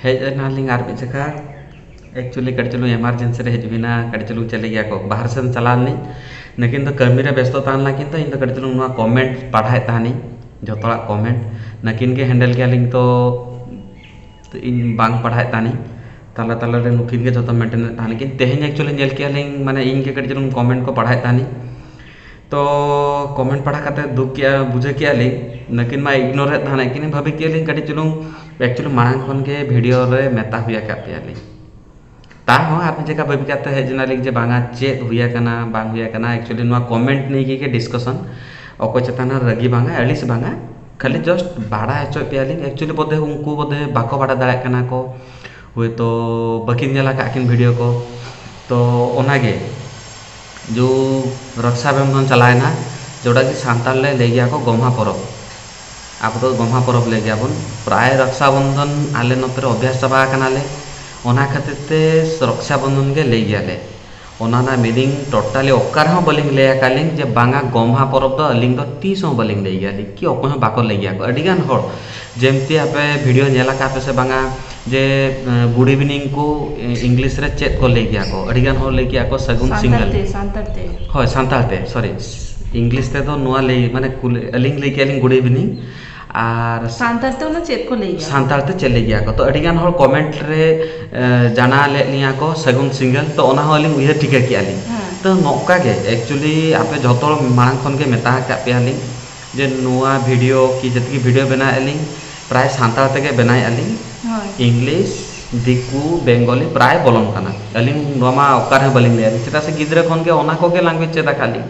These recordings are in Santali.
ᱦᱮᱡ ᱮᱱᱟᱞᱤᱧ ᱟᱨ ᱢᱤᱫ ᱡᱚᱠᱷᱟ ᱮᱠᱪᱩᱞᱞᱤ ᱠᱟᱹᱴᱤᱡ ᱪᱩᱞᱩᱝ ᱮᱢᱟᱨᱡᱮᱱᱥᱤ ᱨᱮ ᱦᱮᱡ ᱦᱩᱭ ᱮᱱᱟ ᱠᱟᱹᱴᱤᱡ ᱪᱩᱞᱩᱝ ᱪᱮᱫ ᱞᱟᱹᱭ ᱜᱮᱭᱟ ᱠᱚ ᱵᱟᱦᱨᱮ ᱥᱮᱱ ᱪᱟᱞᱟᱣ ᱞᱮᱱᱟᱹᱧ ᱞᱮᱠᱤᱱ ᱫᱚ ᱠᱟᱹᱢᱤ ᱨᱮ ᱵᱮᱥᱛᱚ ᱛᱟᱦᱮᱸ ᱞᱮᱱᱟ ᱠᱤᱱᱛᱩ ᱤᱧ ᱫᱚ ᱠᱟᱹᱴᱤᱡ ᱪᱩᱞᱩᱝ ᱱᱚᱣᱟ ᱠᱚᱢᱮᱱᱴ ᱯᱟᱲᱦᱟᱣᱮᱫ ᱛᱟᱦᱮᱱᱤᱧ ᱡᱚᱛᱚ ᱦᱚᱲᱟᱜ ᱠᱚᱢᱮᱱᱴ ᱱᱩᱠᱤᱱ ᱜᱮ ᱦᱮᱱᱰᱮᱞ ᱠᱮᱜᱼᱟ ᱞᱤᱧ ᱛᱚ ᱤᱧ ᱵᱟᱝ ᱯᱟᱲᱦᱟᱣᱮᱫ ᱛᱟᱦᱮᱱᱤᱧ ᱛᱟᱞᱟ ᱛᱟᱞᱟ ᱨᱮ ᱱᱩᱠᱤᱱ ᱜᱮ ᱡᱚᱛᱚ ᱢᱮᱱᱴᱮᱱ ᱮᱫ ᱛᱟᱦᱮᱱᱟᱠᱤᱱ ᱛᱮᱦᱤᱧ ᱮᱠᱪᱩᱞᱞᱤ ᱧᱮᱞ ᱠᱮᱜᱼᱟ ᱞᱤᱧ ᱢᱟᱱᱮ ᱤᱧ ᱜᱮ ᱠᱟᱹᱴᱤᱡ ᱪᱩᱞᱩᱝ ᱠᱚᱢᱮᱱᱴ ᱠᱚ ᱯᱟᱲᱦᱟᱣᱮᱫ ᱛᱟᱦᱮᱱᱤᱧ ᱛᱚ ᱠᱚᱢᱮᱱᱴ ᱯᱟᱲᱦᱟᱣ ᱠᱟᱛᱮᱫ ᱫᱩᱠ ᱠᱮᱫᱼᱟ ᱵᱩᱡᱷᱟᱹᱣ ᱠᱮᱫᱼᱟ ᱞᱤᱧ ᱱᱩᱠᱤᱱ ᱢᱟ ᱤᱜᱽᱱᱳᱨᱮᱫ ᱛᱟᱦᱮᱱᱟᱭ ᱠᱤᱱ ᱵᱷᱟᱹᱵᱤ ᱠᱮᱫᱼᱟ ᱞᱤᱧ ᱠᱟᱹᱴᱤᱡ ᱪᱩᱞᱩᱝ ᱮᱠᱪᱩᱞᱞᱤ ᱢᱟᱲᱟᱝ ᱠᱷᱚᱱ ᱜᱮ ᱵᱷᱤᱰᱤᱭᱳ ᱨᱮ ᱢᱮᱛᱟ ᱦᱩᱭ ᱟᱠᱟᱫ ᱯᱮᱭᱟ ᱞᱤᱧ ᱛᱟᱣ ᱦᱚᱸ ᱟᱨ ᱢᱤᱫ ᱡᱚᱠᱷᱟ ᱵᱷᱟᱹᱵᱤ ᱠᱟᱛᱮᱫ ᱦᱮᱡ ᱮᱱᱟᱞᱤᱧ ᱡᱮ ᱵᱟᱝᱟ ᱪᱮᱫ ᱦᱩᱭ ᱟᱠᱟᱱᱟ ᱵᱟᱝ ᱦᱩᱭ ᱟᱠᱟᱱᱟ ᱮᱠᱪᱩᱞᱞᱤ ᱱᱚᱣᱟ ᱠᱚᱢᱮᱱᱴ ᱱᱤᱭᱮ ᱜᱮ ᱰᱤᱥᱠᱟᱥᱚᱱ ᱚᱠᱚᱭ ᱪᱮᱛᱟᱱ ᱨᱮ ᱨᱟᱹᱜᱤ ᱵᱟᱝᱟ ᱟᱹᱲᱤᱥ ᱵᱟᱝᱟ ᱠᱷᱟᱹᱞᱤ ᱡᱟᱥᱴ ᱵᱟᱲᱟᱭ ᱦᱚᱪᱚᱭᱮᱫ ᱯᱮᱭᱟ ᱞᱤᱧ ᱮᱠᱪᱩᱞᱞᱤ ᱵᱳᱫᱷᱚᱭ ᱩᱱᱠᱩ ᱵᱳᱫᱷᱚᱭ ᱵᱟᱠᱚ ᱵᱟᱲᱟᱭ ᱫᱟᱲᱮᱭᱟᱜ ᱠᱟᱱᱟ ᱠᱚ ᱦᱳᱭᱛᱚ ᱵᱟᱹᱠᱤᱱ ᱧᱮᱞ ᱟᱠᱟᱫ ᱠᱤᱱ ᱵᱷᱤᱰᱤᱭᱳ ᱠᱚ ᱛᱚ ᱚᱱᱟᱜᱮ ᱡᱳ ᱨᱚᱠᱥᱟ ᱵᱚᱱᱫᱷᱚᱱ ᱪᱟᱞᱟᱣᱮᱱᱟ ᱡᱮᱴᱟ ᱠᱤ ᱥᱟᱱᱛᱟᱲ ᱞᱮ ᱞᱟᱹᱭ ᱜᱮᱭᱟ ᱠᱚ ᱜᱚᱢᱦᱟ ᱯᱚᱨᱚᱵᱽ ᱟᱵᱚ ᱫᱚ ᱜᱚᱢᱦᱟ ᱯᱚᱨᱚᱵᱽ ᱞᱟᱹᱭ ᱜᱮᱭᱟᱵᱚᱱ ᱯᱨᱟᱭ ᱨᱚᱠᱥᱟ ᱵᱚᱱᱫᱷᱚᱱ ᱟᱞᱮ ᱱᱚᱛᱮ ᱨᱮ ᱚᱵᱵᱷᱟᱥ ᱪᱟᱵᱟ ᱟᱠᱟᱱᱟᱞᱮ ᱚᱱᱟ ᱠᱷᱟᱹᱛᱤᱨ ᱛᱮ ᱨᱚᱠᱥᱟ ᱵᱚᱱᱫᱷᱚᱱ ᱜᱮ ᱞᱟᱹᱭ ᱜᱮᱭᱟᱞᱮ ᱚᱱᱟ ᱨᱮᱱᱟᱜ ᱢᱤᱱᱤᱝ ᱴᱳᱴᱟᱞᱤ ᱚᱠᱟ ᱨᱮᱦᱚᱸ ᱵᱟᱹᱞᱤᱧ ᱞᱟᱹᱭ ᱟᱠᱟᱫ ᱞᱤᱧ ᱡᱮ ᱵᱟᱝᱟ ᱜᱚᱢᱦᱟ ᱯᱚᱨᱚᱵᱽ ᱫᱚ ᱟᱹᱞᱤᱧ ᱫᱚ ᱛᱤᱥ ᱦᱚᱸ ᱵᱟᱹᱞᱤᱧ ᱞᱟᱹᱭ ᱜᱮᱭᱟ ᱞᱤᱧ ᱠᱤ ᱚᱠᱚᱭ ᱦᱚᱸ ᱵᱟᱠᱚ ᱞᱟᱹᱭ ᱜᱮᱭᱟ ᱠᱚ ᱟᱹᱰᱤ ᱜᱟᱱ ᱦᱚᱲ ᱡᱮᱢᱛᱤ ᱟᱯᱮ ᱵᱷᱤᱰᱤᱭᱳ ᱧᱮᱞ ᱟᱠᱟᱫ ᱟᱯᱮ ᱥᱮ ᱵᱟᱝᱟ ᱡᱮ ᱜᱩᱰ ᱤᱵᱷᱤᱱᱤᱝ ᱠᱚ ᱤᱝᱞᱤᱥ ᱨᱮ ᱪᱮᱫ ᱠᱚ ᱞᱟᱹᱭ ᱜᱮᱭᱟ ᱠᱚ ᱟᱹᱰᱤ ᱜᱟᱱ ᱦᱚᱲ ᱞᱟᱹᱭ ᱠᱮᱜᱼᱟ ᱠᱚ ᱥᱟᱹᱜᱩᱱ ᱥᱤᱸᱜᱟᱹᱲ ᱥᱟᱱᱛᱟᱲ ᱛᱮ ᱥᱟᱱᱛᱟᱲ ᱛᱮ ᱦᱳᱭ ᱥᱟᱱᱛᱟᱲ ᱛᱮ ᱥᱚᱨᱤ ᱤᱝᱞᱤᱥ ᱛᱮᱫᱚ ᱱᱚᱣᱟ ᱞᱟᱹᱭ ᱢᱟᱱᱮ ᱠᱩᱞᱤ ᱟᱹᱞᱤᱧ ᱞᱟᱹᱭ ᱠᱮᱜᱼᱟ ᱞᱤᱧ ᱜᱩᱰ ᱤᱵᱷᱤᱱᱤᱝ ᱟᱨ ᱥᱟᱱᱛᱟᱲ ᱛᱮ ᱚᱱᱟ ᱪᱮᱫ ᱠᱚ ᱞᱟᱹᱭ ᱜᱮᱭᱟ ᱥᱟᱱᱛᱟᱲ ᱛᱮ ᱪᱮᱫ ᱞᱟᱹᱭ ᱜᱮᱭᱟ ᱠᱚ ᱛᱳ ᱟᱹᱰᱤᱜᱟᱱ ᱦᱚᱲ ᱠᱚᱢᱮᱱᱴ ᱨᱮ ᱡᱟᱱᱟᱣ ᱞᱮᱜ ᱞᱤᱧᱟᱹ ᱠᱚ ᱥᱟᱹᱜᱩᱱ ᱥᱤᱸᱜᱟᱹᱲ ᱛᱳ ᱚᱱᱟ ᱦᱚᱸ ᱟᱹᱞᱤᱧ ᱩᱭᱦᱟᱹᱨ ᱴᱷᱤᱠᱟᱹ ᱠᱮᱜᱼᱟ ᱞᱤᱧ ᱛᱳ ᱱᱚᱝᱠᱟ ᱜᱮ ᱮᱠᱪᱩᱞᱞᱤ ᱟᱯᱮ ᱡᱚᱛᱚ ᱦᱚᱲ ᱢᱟᱲᱟᱝ ᱠᱷᱚᱱ ᱜᱮ ᱢᱮᱛᱟ ᱟᱠᱟᱫ ᱯᱮᱭᱟ ᱞᱤᱧ ᱡᱮ ᱱᱚᱣᱟ ᱵᱷᱤᱰᱤᱭᱳ ᱠᱤ ᱡᱮᱛᱮ ᱜᱮ ᱵᱷᱤᱰᱤᱭᱳ ᱵᱮᱱᱟᱣᱮᱜᱼᱟ ᱞᱤᱧ ᱯᱨᱟᱭ ᱥᱟᱱᱛᱟᱲ ᱛᱮᱜᱮ ᱵᱮᱱᱟᱣᱮᱜᱼᱟ ᱞᱤᱧ ᱤᱝᱞᱤᱥ ᱫᱤᱠᱩ ᱵᱮᱝᱜᱚᱞᱤ ᱯᱨᱟᱭ ᱵᱚᱞᱚᱱ ᱠᱟᱱᱟ ᱟᱹᱞᱤᱧ ᱱᱚᱣᱟ ᱢᱟ ᱚᱠᱟ ᱨᱮᱦᱚᱸ ᱵᱟᱹᱞᱤᱧ ᱞᱟᱹᱭᱟ ᱪᱮᱫᱟᱜ ᱥᱮ ᱜᱤᱫᱽᱨᱟᱹ ᱠᱷᱚᱱᱜᱮ ᱚᱱᱟ ᱠᱚᱜᱮ ᱞᱮᱝᱜᱩᱭᱮᱡᱽ ᱪᱮᱫ ᱟᱠᱟᱫ ᱞᱤᱧ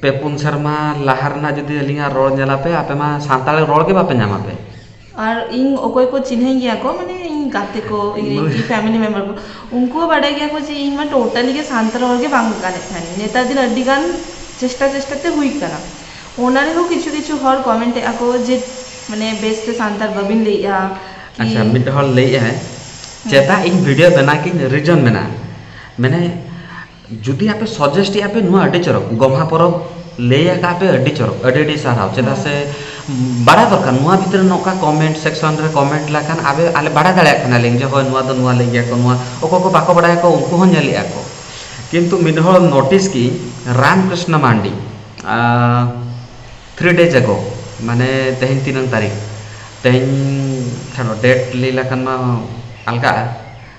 ᱯᱮ ᱯᱩᱱ ᱥᱮᱨᱢᱟ ᱞᱟᱦᱟ ᱨᱮᱱᱟᱜ ᱡᱩᱫᱤ ᱟᱹᱞᱤᱧᱟᱜ ᱨᱚᱲ ᱧᱮᱞ ᱟᱯᱮ ᱟᱯᱮ ᱢᱟ ᱥᱟᱱᱛᱟᱲᱤ ᱨᱚᱲ ᱜᱮ ᱵᱟᱯᱮ ᱧᱟᱢ ᱟᱯᱮ ᱟᱨ ᱤᱧ ᱚᱠᱚᱭ ᱠᱚ ᱪᱤᱱᱦᱟᱹᱣᱤᱧ ᱜᱮᱭᱟ ᱠᱚ ᱢᱟᱱᱮ ᱤᱧ ᱜᱟᱛᱮ ᱠᱚ ᱤᱧᱨᱮᱱ ᱯᱷᱮᱢᱮᱞᱤ ᱢᱮᱢᱵᱟᱨ ᱠᱚ ᱩᱱᱠᱩ ᱦᱚᱸ ᱵᱟᱰᱟᱭ ᱜᱮᱭᱟ ᱠᱚ ᱡᱮ ᱤᱧ ᱢᱟ ᱴᱳᱴᱟᱞᱤ ᱜᱮ ᱥᱟᱱᱛᱟᱲ ᱨᱚᱲ ᱜᱮ ᱵᱟᱝ ᱜᱟᱱᱮᱫ ᱛᱟᱦᱮᱱᱤᱧ ᱱᱮᱛᱟᱨ ᱫᱤᱱ ᱟᱹᱰᱤ ᱜᱟᱱ ᱪᱮᱥᱴᱟ ᱪᱮᱥᱴᱟ ᱛᱮ ᱦᱩᱭ ᱠᱟᱱᱟ ᱚᱱᱟ ᱨᱮᱦᱚᱸ ᱠᱤᱪᱷᱩ ᱠᱤᱪᱷᱩ ᱦᱚᱲ ᱠᱚᱢᱮᱱᱴ ᱮᱜᱼᱟ ᱠᱚ ᱡᱮ ᱢᱟᱱᱮ ᱵᱮᱥ ᱛᱮ ᱥᱟᱱᱛᱟᱲ ᱵᱟᱹᱵᱤᱱ ᱞᱟᱹᱭᱮᱜᱼᱟ ᱟᱪᱪᱷᱟ ᱢᱤᱫ ᱦᱚᱲ ᱞᱟᱹᱭᱮᱜᱼᱟᱭ ᱪᱮᱫᱟᱜ ᱤᱧ ᱵᱷᱤᱰᱭᱳ ᱵᱮᱱᱟᱣ ᱠᱮᱜ ᱟᱹᱧ ᱨᱤᱡᱚᱱ ᱢᱮᱱᱟᱜᱼᱟ ᱢᱮᱱᱮᱫ ᱡᱩᱫᱤ ᱟᱯᱮ ᱥᱚᱡᱮᱥᱴ ᱮᱫᱟ ᱯᱮ ᱱᱚᱣᱟ ᱟᱹᱰᱤ ᱪᱚᱨᱚᱠ ᱜᱚᱢᱦᱟ ᱯᱚᱨᱚᱵᱽ ᱞᱟᱹᱭ ᱟᱠᱟᱫ ᱯᱮ ᱟᱹᱰᱤ ᱪᱚᱨᱚᱠ ᱟᱹᱰᱤ ᱟᱹᱰᱤ ᱥᱟᱨᱦᱟᱣ ᱪᱮᱫᱟᱜ ᱥᱮ ᱵᱟᱲᱟᱭ ᱫᱚᱨᱠᱟᱨ ᱱᱚᱣᱟ ᱵᱷᱤᱛᱨᱤ ᱨᱮ ᱱᱚᱝᱠᱟ ᱠᱚᱢᱮᱱᱴ ᱥᱮᱠᱥᱚᱱ ᱨᱮ ᱠᱚᱢᱮᱱᱴ ᱞᱮᱠᱷᱟᱱ ᱟᱵᱮ ᱟᱞᱮ ᱵᱟᱲᱟᱭ ᱫᱟᱲᱮᱭᱟᱜ ᱠᱟᱱᱟᱞᱮ ᱡᱮ ᱦᱳᱭ ᱱᱚᱣᱟ ᱫᱚ ᱱᱚᱣᱟ ᱞᱟᱹᱭ ᱜᱮᱭᱟ ᱠᱚ ᱱᱚᱣᱟ ᱚᱠᱚᱭ ᱠᱚ ᱵᱟᱠᱚ ᱵᱟᱲᱟᱭᱟ ᱠᱚ ᱩᱱᱠᱩ ᱦᱚᱸ ᱧᱮᱞᱮᱫᱼᱟ ᱠᱚ ᱠᱤᱱᱛᱩ ᱢᱤᱫ ᱦᱚᱲ ᱱᱳᱴᱤᱥ ᱠᱮᱫᱟᱹᱧ Ram Krishna Mandi three days ago ᱢᱟᱱᱮ ᱛᱮᱦᱮᱧ ᱛᱤᱱᱟᱹᱝ ᱛᱟᱹᱨᱤᱠᱷ ᱛᱮᱦᱮᱧ ᱪᱷᱟᱲᱚ ᱰᱮᱴ ᱞᱟᱹᱭ ᱞᱮᱠᱷᱟᱱ ᱢᱟ ᱟᱞᱜᱟᱜᱼᱟ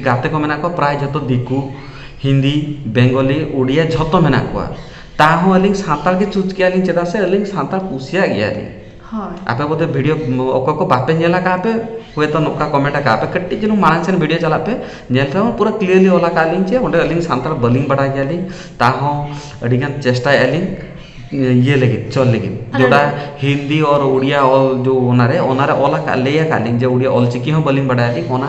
ᱜᱟᱛᱮ ᱠᱚ ᱢᱮᱱᱟᱜ ᱠᱚᱣᱟ ᱯᱨᱟᱭ ᱡᱚᱛᱚ ᱫᱤᱠᱩ ᱦᱤᱱᱫᱤ ᱵᱮᱝᱜᱚᱞᱤ ᱩᱰᱤᱭᱟ ᱡᱷᱚᱛᱚ ᱢᱮᱱᱟᱜ ᱠᱚᱣᱟ ᱛᱟᱦᱚᱸ ᱟᱹᱞᱤᱧ ᱥᱟᱱᱛᱟᱲ ᱜᱮ ᱪᱩᱡᱽ ᱠᱮᱜᱼᱟ ᱞᱤᱧ ᱪᱮᱫᱟᱜ ᱥᱮ ᱟᱹᱞᱤᱧ ᱥᱟᱱᱛᱟᱲ ᱠᱩᱥᱤᱭᱟᱜ ᱜᱮᱭᱟ ᱞᱤᱧ ᱟᱯᱮ ᱵᱚᱫᱷᱚᱭ ᱵᱷᱤᱰᱭᱳ ᱚᱠᱚᱭ ᱠᱚ ᱵᱟᱯᱮ ᱧᱮᱞ ᱠᱟᱜᱼᱟ ᱯᱮ ᱦᱳᱭᱛᱳ ᱱᱚᱝᱠᱟ ᱠᱚᱢᱮᱱᱴ ᱠᱟᱜᱼᱟ ᱯᱮ ᱠᱟᱹᱴᱤᱡ ᱪᱩᱞᱩᱝ ᱢᱟᱲᱟᱝ ᱥᱮᱱ ᱵᱷᱤᱰᱭᱳ ᱪᱟᱞᱟᱜ ᱯᱮ ᱧᱮᱞ ᱯᱮ ᱯᱩᱨᱟᱹ ᱠᱞᱤᱭᱟᱨᱞᱤ ᱚᱞ ᱠᱟᱜᱼᱟ ᱞᱤᱧ ᱡᱮ ᱚᱸᱰᱮ ᱟᱹᱞᱤᱧ ᱥᱟᱱᱛᱟᱲ ᱵᱟᱹᱞᱤᱧ ᱵᱟᱲᱟᱭ ᱜᱮᱭᱟ ᱞᱤᱧ ᱛᱟᱦᱚᱸ ᱟᱹᱰᱤ ᱜᱟᱱ ᱪᱮᱥᱴᱟᱭᱮᱜᱼᱟ ᱞᱤᱧ ᱤᱭᱟᱹ ᱞᱟᱹᱜᱤᱫ ᱪᱚᱞ ᱞᱟᱹᱜᱤᱫ ᱡᱮᱴᱟ ᱦᱤᱱᱫᱤ ᱚᱨ ᱩᱰᱤᱭᱟ ᱚᱞ ᱡᱚ ᱚᱱᱟᱨᱮ ᱚᱱᱟᱨᱮ ᱚᱞ ᱠᱟᱜᱼᱟ ᱞᱟᱹᱭ ᱠᱟᱜᱼᱟ ᱞᱤᱧ ᱡᱮ ᱩᱰᱤᱭᱟ ᱚᱞ ᱪᱤᱠᱤ ᱦᱚᱸ ᱵᱟᱹᱞᱤᱧ ᱵᱟᱲᱟᱭᱟ ᱞᱤᱧ ᱚᱱᱟ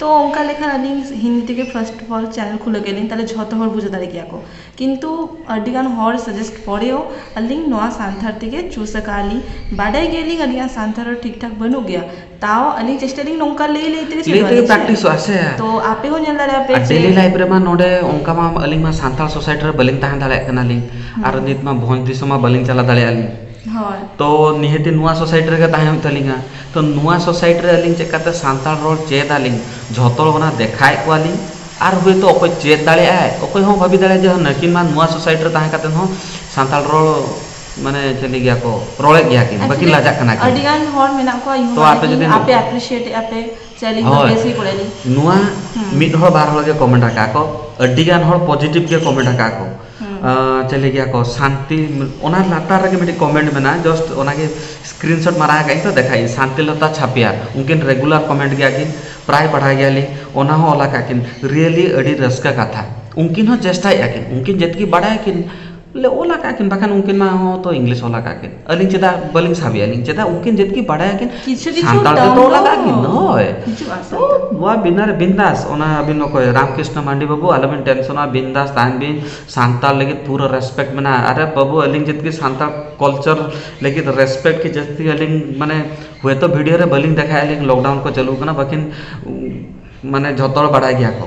ᱛᱚ ᱚᱱᱠᱟ ᱞᱮᱠᱷᱟᱱ ᱟᱹᱞᱤᱧ ᱦᱤᱱᱫᱤ ᱛᱮᱜᱮ ᱯᱷᱟᱥᱴ ᱚᱯᱷᱚᱞ ᱪᱮᱱᱮᱞ ᱠᱷᱩᱞᱟᱹᱣ ᱠᱮᱫ ᱟᱹᱞᱤᱧ ᱛᱟᱦᱚᱞᱮ ᱡᱷᱚᱛᱚ ᱦᱚᱲ ᱵᱩᱡᱷᱟᱹᱣ ᱫᱟᱲᱮ ᱠᱮᱭᱟ ᱠᱚ ᱠᱤᱱᱛᱩ ᱟᱹᱰᱤᱜᱟᱱ ᱦᱚᱲ ᱥᱟᱡᱮᱥᱴ ᱯᱚᱨᱮ ᱦᱚᱸ ᱟᱹᱞᱤᱧ ᱱᱚᱣᱟ ᱥᱟᱱᱛᱷᱟᱲ ᱛᱮᱜᱮ ᱪᱩᱥ ᱠᱟᱜᱼᱟ ᱞᱤᱧ ᱵᱟᱰᱟᱭ ᱜᱮᱭᱟᱞᱤᱧ ᱟᱹᱞᱤᱧᱟᱜ ᱥᱟᱱᱛᱷᱟᱲ ᱨᱚᱲ ᱴᱷᱤᱠ ᱴᱷᱟᱠ ᱵᱟᱹᱱᱩᱜ ᱜᱮᱭᱟ ᱛᱟᱣ ᱟᱹᱞᱤᱧ ᱪᱮᱥᱴᱟᱭ ᱫᱟᱹᱞᱤᱧ ᱱᱚᱝᱠᱟ ᱞᱟᱹᱭ ᱞᱟᱹᱭ ᱛᱮᱜᱮ ᱞᱟᱹᱭ ᱛᱮᱜᱮ ᱯᱨᱮᱠᱴᱤᱥᱚᱜᱼᱟ ᱥᱮ ᱛᱚ ᱟᱯᱮ ᱦᱚᱸ ᱧᱮᱞ ᱫᱟᱲᱮᱭᱟᱜ ᱯᱮ ᱟᱨ ᱡᱮ ᱰᱮᱞᱤ ᱞᱟᱭᱤᱯᱷ ᱨᱮᱢᱟ ᱱᱚᱰᱮ ᱚᱱᱠᱟ ᱢᱟ ᱟᱹᱞᱤᱧ ᱢᱟ ᱥᱟᱱᱛᱟᱲ ᱥᱳᱥᱟᱭᱤᱴᱤ ᱨᱮ ᱵᱟᱹᱞᱤᱧ ᱛᱟᱦᱮᱸ ᱫᱟᱲᱮᱭᱟᱜ ᱠᱟᱱᱟᱞᱤᱧ ᱟᱨ ᱱᱤᱛ ᱢᱟ ᱵᱷᱚᱸᱡᱽ ᱫᱤᱥᱚᱢ ᱢᱟ ᱵᱟᱹᱞᱤᱧ ᱪᱟᱞᱟᱣ ᱫᱟᱲᱮᱭᱟᱜᱼᱟ ᱞᱤᱧ ᱦᱳᱭ ᱛᱚ ᱱᱤᱦᱟᱹᱛᱤ ᱱᱚᱣᱟ ᱥᱳᱥᱟᱭᱤᱴᱤ ᱨᱮᱜᱮ ᱛᱟᱦᱮᱸ ᱦᱩᱭᱩᱜ ᱛᱟᱹᱞᱤᱧᱟ ᱛᱚ ᱱᱚᱣᱟ ᱥᱳᱥᱟᱭᱤᱴᱤ ᱨᱮ ᱟᱹᱞᱤᱧ ᱪᱮᱫ ᱞᱮᱠᱟᱛᱮ ᱥᱟᱱᱛᱟᱲ ᱨᱚᱲ ᱪᱮᱫ ᱟᱹᱞᱤᱧ ᱡᱷᱚᱛᱚ ᱦᱚᱲ ᱚᱱᱟ ᱫᱮᱠᱷᱟᱣᱮᱫ ᱠᱚᱣᱟᱞᱤᱧ ᱟᱨ ᱦᱳᱭᱛᱳ ᱚᱠᱚᱭ ᱪᱮᱫ ᱫᱟᱲᱮᱭᱟᱜ ᱟᱭ ᱚᱠᱚᱭ ᱦᱚᱸ ᱵᱷᱟᱹᱵᱤ ᱫᱟᱲᱮᱭᱟᱜ ᱟᱭ ᱡᱮ ᱱᱩᱠᱤᱱ ᱢᱟ ᱱᱚᱣᱟ ᱥᱳᱥᱟᱭᱤᱴᱤ ᱨᱮ ᱛᱟᱦᱮᱸ ᱠᱟᱛᱮᱫ ᱦᱚᱸ ᱥᱟᱱᱛᱟᱲ ᱨᱚᱲ ᱢᱟᱱᱮ ᱪᱮᱫ ᱞᱟᱹᱭ ᱜᱮᱭᱟ ᱠᱚ ᱨᱚᱲᱮᱫ ᱜᱮᱭᱟ ᱠᱤᱱ ᱵᱟᱹᱠᱤᱱ ᱞᱟᱡᱟᱜ ᱠᱟᱱᱟ ᱠᱤᱱ ᱟᱹᱰᱤ ᱜᱟᱱ ᱦᱚᱲ ᱢᱮᱱᱟᱜ ᱠᱚᱣᱟ ᱤᱧ ᱦᱚᱸ ᱵᱟᱲᱟᱭ ᱜᱮᱭᱟᱹᱧ ᱟᱯᱮ ᱮᱯᱨᱤᱥᱤᱭᱮᱴ ᱮᱫᱼᱟ ᱯᱮ ᱥᱮ ᱟᱹᱞᱤᱧ ᱫᱚ ᱵᱮᱥ ᱜᱮ ᱠᱚᱨᱟᱣ ᱟᱹᱞᱤᱧ ᱦᱳᱭ ᱱᱚᱣᱟ ᱢᱤᱫ ᱦᱚᱲ ᱵᱟᱨ ᱦᱚᱲ ᱜᱮ ᱠᱚᱢᱮᱱᱴ ᱟᱠᱟᱫᱼᱟ ᱠᱚ ᱟᱹᱰᱤᱜᱟᱱ ᱦᱚᱲ ᱯᱚᱡᱮᱴᱤᱵᱷ ᱜᱮ ᱠᱚᱢᱮᱱᱴ ᱟᱠᱟᱫᱼᱟ ᱠᱚ ᱪᱤᱞᱤ ᱜᱮᱭᱟ ᱠᱚ ᱥᱟᱱᱛᱤ ᱚᱱᱟ ᱞᱟᱛᱟᱨ ᱨᱮᱜᱮ ᱢᱤᱫᱴᱤᱡ ᱠᱚᱢᱮᱱᱴ ᱢᱮᱱᱟᱜᱼᱟ ᱡᱟᱥᱴ ᱚᱱᱟᱜᱮ ᱥᱠᱨᱤᱱ ᱥᱚᱴ ᱢᱟᱨᱟᱣ ᱠᱟᱜ ᱟᱹᱧ ᱛᱚ ᱫᱮᱠᱷᱟᱣᱮᱫ ᱟᱹᱧ ᱥᱟᱱᱛᱤᱞᱚᱛᱟ ᱪᱷᱟᱯᱭᱟ ᱩᱱᱠᱤᱱ ᱨᱮᱜᱩᱞᱟᱨ ᱠᱚᱢᱮᱱᱴ ᱜᱮᱭᱟ ᱠᱤᱱ ᱯᱨᱟᱭ ᱯᱟᱲᱦᱟᱣ ᱜᱮᱭᱟᱞᱤᱧ ᱚᱱᱟ ᱦᱚᱸ ᱚᱞ ᱠᱟᱜᱼᱟ ᱠᱤᱱ ᱨᱤᱭᱮᱞᱤ ᱟᱹᱰᱤ ᱨᱟᱹᱥᱠᱟᱹ ᱠᱟᱛᱷᱟ ᱩᱱᱠᱤᱱ ᱦᱚᱸ ᱪᱮᱥᱴᱟᱭᱮᱜᱼᱟ ᱠᱤᱱ ᱩᱱᱠᱤᱱ ᱡᱮᱛᱠᱤ ᱵᱟᱲᱟᱭᱟᱠᱤᱱ ᱵᱚᱞᱮ ᱚᱞ ᱠᱟᱜᱼᱟ ᱠᱤᱱ ᱵᱟᱠᱷᱟᱱ ᱩᱱᱠᱤᱱ ᱢᱟ ᱦᱚᱸ ᱛᱚ ᱤᱝᱞᱤᱥ ᱚᱞ ᱠᱟᱜᱼᱟ ᱠᱤᱱ ᱟᱹᱞᱤᱧ ᱪᱮᱫᱟᱜ ᱵᱟᱹᱞᱤᱧ ᱥᱟᱵᱮᱭᱟ ᱟᱹᱞᱤᱧ ᱪᱮᱫᱟᱜ ᱩᱱᱠᱤᱱ ᱡᱟᱹᱛ ᱠᱤᱱ ᱵᱟᱰᱟᱭᱟ ᱠᱤᱱ ᱠᱤᱪᱷᱩ ᱠᱤᱪᱷᱩ ᱥᱟᱱᱛᱟᱲ ᱫᱚ ᱛᱚ ᱞᱟᱜᱟᱜ ᱠᱤᱱ ᱦᱳᱭ ᱦᱤᱡᱩᱜᱼᱟ ᱛᱚ ᱥᱟᱱᱛᱟᱲ ᱱᱚᱣᱟ ᱵᱤᱱᱟᱨ ᱵᱤᱱᱫᱟᱥ ᱚᱱᱟ ᱟᱹᱵᱤᱱ ᱚᱠᱚᱭ ᱨᱟᱢᱠᱨᱤᱥᱱᱚ ᱢᱟᱱᱰᱤ ᱵᱟᱹᱵᱩ ᱟᱞᱚᱵᱤᱱ ᱴᱮᱱᱥᱚᱱᱚᱜᱼᱟ ᱵᱤᱱᱫᱟᱥ ᱛᱟᱦᱮᱱ ᱵᱤᱱ ᱥᱟᱱᱛᱟᱲ ᱞᱟᱹᱜᱤᱫ ᱯᱩᱨᱟᱹ ᱨᱮᱥᱯᱮᱠᱴ ᱢᱮᱱᱟᱜᱼᱟ ᱟᱨᱮ ᱵᱟᱹᱵᱩ ᱟᱹᱞᱤᱧ ᱡᱟᱹᱛ ᱜᱮ ᱥᱟᱱᱛᱟᱲ ᱠᱟᱞᱪᱟᱨ ᱞᱟᱹᱜᱤᱫ ᱨᱮᱥᱯᱮᱠᱴ ᱠᱤ ᱡᱟᱹᱥᱛᱤ ᱟᱹᱞᱤᱧ ᱢᱟᱱᱮ ᱦᱳᱭᱛᱳ ᱵᱷᱤᱰᱤᱭᱳ ᱨᱮ ᱵᱟᱹᱞᱤᱧ ᱫᱮᱠᱷᱟᱭᱮᱫᱼᱟ ᱞᱚᱠᱰᱟᱣᱩᱱ ᱠᱚ ᱪᱟᱹᱞᱩ ᱠᱟᱱᱟ ᱵᱟᱹᱠᱤᱱ ᱢᱟᱱᱮ ᱡᱷᱚᱛᱚ ᱦᱚᱲ ᱵᱟᱲᱟᱭ ᱜᱮᱭᱟ ᱠᱚ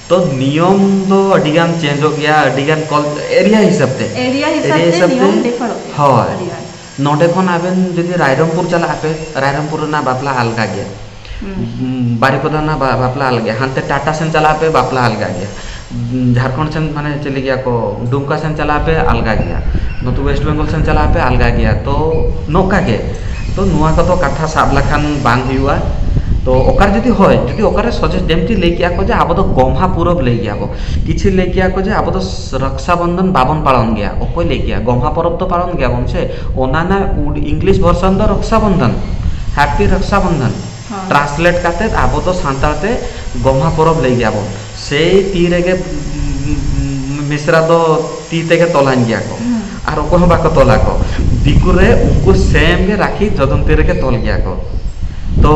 ᱛᱚ ᱱᱤᱭᱚᱢ ᱫᱚ ᱟᱹᱰᱤ ᱜᱟᱱ ᱪᱮᱧᱡᱚᱜ ᱜᱮᱭᱟ ᱟᱹᱰᱤ ᱜᱟᱱ ᱠᱚᱞ ᱮᱨᱤᱭᱟ ᱦᱤᱥᱟᱹᱵ ᱛᱮ ᱮᱨᱤᱭᱟ ᱦᱤᱥᱟᱹᱵ ᱛᱮ ᱱᱤᱭᱚᱢ ᱰᱤᱯᱷᱟᱨᱚᱜ ᱜᱮᱭᱟ ᱦᱳᱭ ᱟᱹᱰᱤ ᱜᱟᱱ ᱱᱚᱰᱮ ᱠᱷᱚᱱ ᱟᱵᱮᱱ ᱡᱩᱫᱤ ᱨᱟᱭᱨᱚᱝᱯᱩᱨ ᱪᱟᱞᱟᱜ ᱟᱯᱮ ᱨᱟᱭᱨᱚᱝᱯᱩᱨ ᱨᱮᱱᱟᱜ ᱵᱟᱯᱞᱟ ᱟᱞᱜᱟ ᱜᱮᱭᱟ ᱵᱟᱨᱤᱯᱟᱫᱟ ᱨᱮᱱᱟᱜ ᱵᱟᱯᱞᱟ ᱟᱞᱜᱟ ᱜᱮᱭᱟ ᱦᱟᱱᱛᱮ ᱴᱟᱴᱟ ᱥᱮᱱ ᱪᱟᱞᱟᱜ ᱟᱯᱮ ᱵᱟᱯᱞᱟ ᱟᱞᱜᱟ ᱜᱮᱭᱟ ᱡᱷᱟᱲᱠᱷᱚᱸᱰ ᱥᱮᱱ ᱢᱟᱱᱮ ᱪᱮᱫ ᱞᱟᱹᱭ ᱜᱮᱭᱟ ᱠᱚ ᱫᱩᱢᱠᱟ ᱥᱮᱱ ᱪᱟᱞᱟᱜ ᱟᱯᱮ ᱟᱞᱜᱟ ᱜᱮᱭᱟ ᱱᱚᱛᱮ ᱚᱭᱮᱥᱴ ᱵᱮᱝᱜᱚᱞ ᱥᱮᱱ ᱪᱟᱞᱟᱜ ᱟᱯᱮ ᱟᱞᱜᱟ ᱜᱮᱭᱟ ᱛᱚ ᱱᱚᱝᱠᱟ ᱜᱮ ᱛᱚ ᱱᱚᱣᱟ ᱠᱚᱫᱚ ᱠᱟᱛᱷᱟ ᱥᱟᱵ ᱞᱮᱠᱷᱟᱱ ᱵᱟᱝ ᱦᱩᱭᱩᱜᱼᱟ ᱛᱚ ᱚᱠᱟᱨᱮ ᱡᱩᱫᱤ ᱦᱳᱭ ᱡᱩᱫᱤ ᱚᱠᱟᱨᱮ ᱥᱚᱡᱷᱮ ᱡᱮᱢᱛᱤ ᱞᱟᱹᱭ ᱠᱮᱜᱼᱟ ᱠᱚ ᱡᱮ ᱟᱵᱚ ᱫᱚ ᱜᱚᱢᱦᱟ ᱯᱚᱨᱚᱵᱽ ᱞᱟᱹᱭ ᱜᱮᱭᱟ ᱵᱚᱱ ᱠᱤᱪᱷᱩ ᱞᱟᱹᱭ ᱠᱮᱜᱼᱟ ᱠᱚ ᱡᱮ ᱟᱵᱚ ᱫᱚ ᱨᱚᱠᱥᱟ ᱵᱚᱱᱫᱷᱚᱱ ᱵᱟᱵᱚᱱ ᱯᱟᱞᱚᱱ ᱜᱮᱭᱟ ᱚᱠᱚᱭ ᱞᱟᱹᱭ ᱠᱮᱜᱼᱟ ᱜᱚᱢᱦᱟ ᱯᱚᱨᱚᱵᱽ ᱫᱚ ᱯᱟᱞᱚᱱ ᱜᱮᱭᱟᱵᱚᱱ ᱥᱮ ᱚᱱᱟ ᱨᱮᱱᱟᱜ ᱤᱝᱞᱤᱥ ᱵᱷᱚᱨᱥᱚᱱ ᱫᱚ ᱨᱚᱠᱥᱟ ᱵᱚᱱᱫᱷᱚᱱ ᱦᱮᱯᱤ ᱨᱚᱠᱥᱟ ᱵᱚᱱᱫᱷᱚᱱ ᱴᱨᱟᱱᱥᱞᱮᱴ ᱠᱟᱛᱮ ᱟᱵᱚ ᱫᱚ ᱥᱟᱱᱛᱟᱲ ᱛᱮ ᱜᱚᱢᱦᱟ ᱯᱚᱨᱚᱵᱽ ᱞᱟᱹᱭ ᱜᱮᱭᱟ ᱵᱚᱱ᱾ ᱥᱮᱭ ᱛᱤ ᱨᱮᱜᱮ ᱢᱤᱥᱨᱟ ᱫᱚ ᱛᱤ ᱛᱮᱜᱮ ᱛᱚᱞᱟᱧ ᱜᱮᱭᱟ ᱠᱚ᱾ ᱟᱨ ᱚᱠᱚᱭ ᱦᱚᱸ ᱵᱟᱠᱚ ᱛᱚᱞ ᱟᱠᱚ᱾ ᱫᱤᱠᱩ ᱨᱮ ᱩᱱᱠᱩ ᱥᱮᱢ ᱜᱮ ᱨᱟᱠᱷᱤ ᱡᱚᱡᱚᱢ ᱛᱤ ᱨᱮᱜᱮ ᱛᱚᱞ ᱜᱮᱭᱟ ᱠᱚ᱾ ᱛᱚ